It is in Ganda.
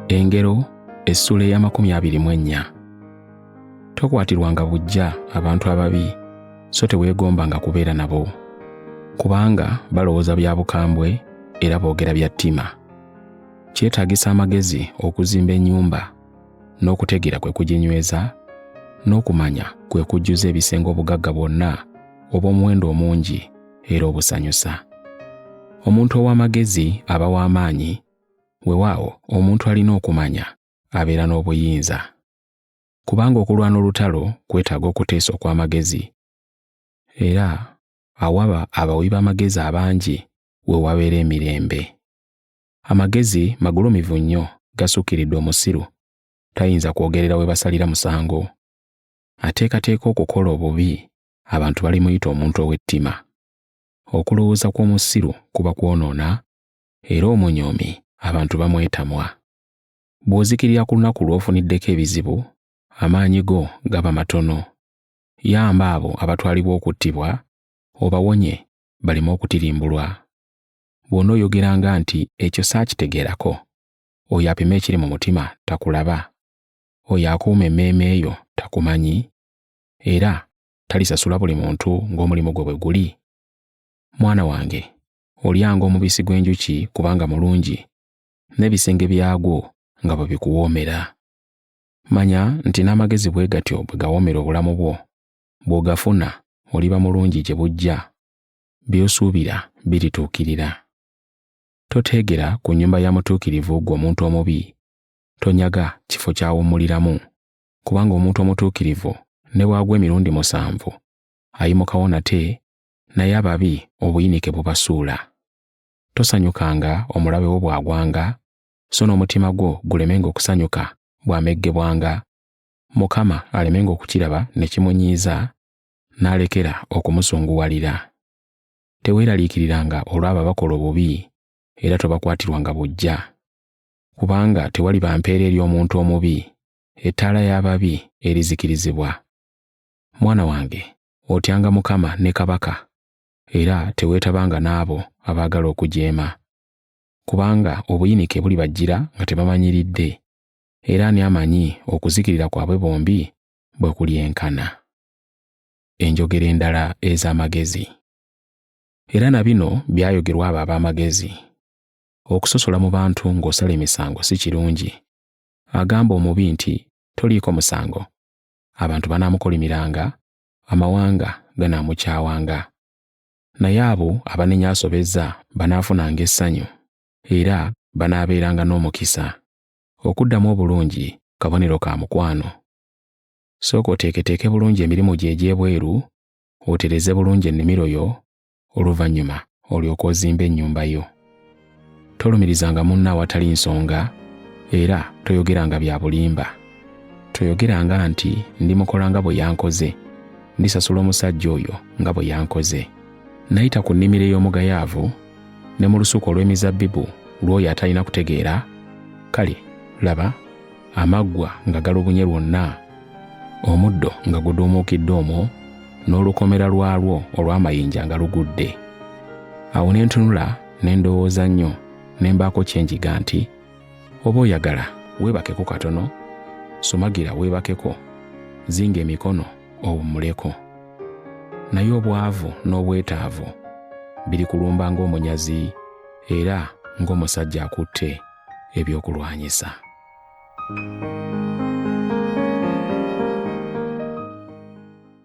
engero essuula ey'amakumi abiri mu ennya tokwatirwanga bujja abantu ababi so teweegombanga kubeera nabo kubanga balowooza bya bukambwe era boogera bya ttima kyetaagisa amagezi okuzimba ennyumba n'okutegeera kwe kuginyweza n'okumanya kwe kujjuza ebisenge obugagga bwonna obw'omuwendo omungi era obusanyusa. Omuntu ow'amagezi aba w'amaanyi, wewaawo omuntu alina okumanya abeera n'obuyinza. Kubanga okulwana olutalo kwetaaga okuteesa okw'amagezi, era awaba abawi b'amagezi abangi we wabeera emirembe. Amagezi magulumivu nnyo gasukkiridde omusiru, tayinza kwogerera we basalira musango. Ateekateeka okukola obubi abantu balimuyita omuntu ow'ettima. Okulowooza kw'omusiru kuba kwonoona, era omunyoomi abantu bamwetamwa. Bw'ozikirira ku lunaku lw'ofuniddeko ebizibu, amaanyi go gaba matono. Yamba abo abatwalibwa okuttibwa, obawonye baleme okutirimbulwa. Bw'onooyogeranga nti ekyo saakitegeerako, oyo apima ekiri mu mutima takulaba? Oyo akuuma emmeeme yo takumanyi? era talisasula buli muntu ng'omulimu gwe bwe guli? Mwana wange, olyanga omubisi gw'enjuki kubanga mulungi, n'ebisenge byagwo nga bwe bikuwoomera. Manya nti n'amagezi bwe gatyo bwe gawoomera obulamu bwo, bw'ogafuna oliba mulungi gye bujja, by'osuubira birituukirira. Toteegera ku nnyumba ya mutuukirivu ggwe omuntu omubi, tonyaga kifo ky'awummuliramu, kubanga omuntu omutuukirivu ne bw'agwa emirundi musanvu ayimukawo nate naye ababi obuyinike bubasuula tosanyukanga omulabe wo bw'agwanga so n'omutima gwo gulemenga okusanyuka bw'ameggebwanga mukama alemenga okukiraba ne kimunyiiza n'alekera okumusunguwalira teweeraliikiriranga olw'abo abakola obubi era tobakwatirwanga bujja kubanga tewaliba mpeera eri omuntu omubi ettaala y'ababi erizikirizibwa. Mwana wange, otyanga Mukama ne kabaka, era teweetabanga n'abo abaagala okujeema. Kubanga obuyinike bulibajjira nga tebamanyiridde, era ani amanyi okuzikirira kwabwe bombi bwe kulyenkana. Enjogera endala ez'amagezi. Era na bino byayogerwa abo ab'amagezi. Okusosola mu bantu ng'osala emisango si kirungi, agamba omubi nti toliiko musango, abantu banaamukolimiranga, amawanga ganaamukyawanga. Naye abo abanenya asobezza banaafunanga essanyu, era banaabeeranga n'omukisa. Okuddamu obulungi kabonero ka mukwano. Sooka oteeketeeke bulungi emirimu gyo egy'ebweru, otereze bulungi ennimiro yo, oluvannyuma olyoka ozimba ennyumba yo. Tolumirizanga munno awatali nsonga era toyogeranga bya bulimba. Toyogeranga nti ndimukola nga bwe yankoze, ndisasula omusajja oyo nga bwe yankoze. Nayita ku nnimiro ey'omugayaavu ne mu lusuku olw'emizabbibu lw'oyo atalina kutegeera, kale laba amaggwa nga galubunye lwonna omuddo nga guduumuukidde omwo n'olukomera lwalwo olw'amayinja nga lugudde awo ne ntunula ne ndowooza nnyo ne mbaako kye njiga nti oba oyagala weebakeko katono sumagira weebakeko zinga emikono owummuleko naye obwavu n'obwetaavu biri kulumba ng'omunyazi era ng'omusajja akutte ebyokulwanyisa.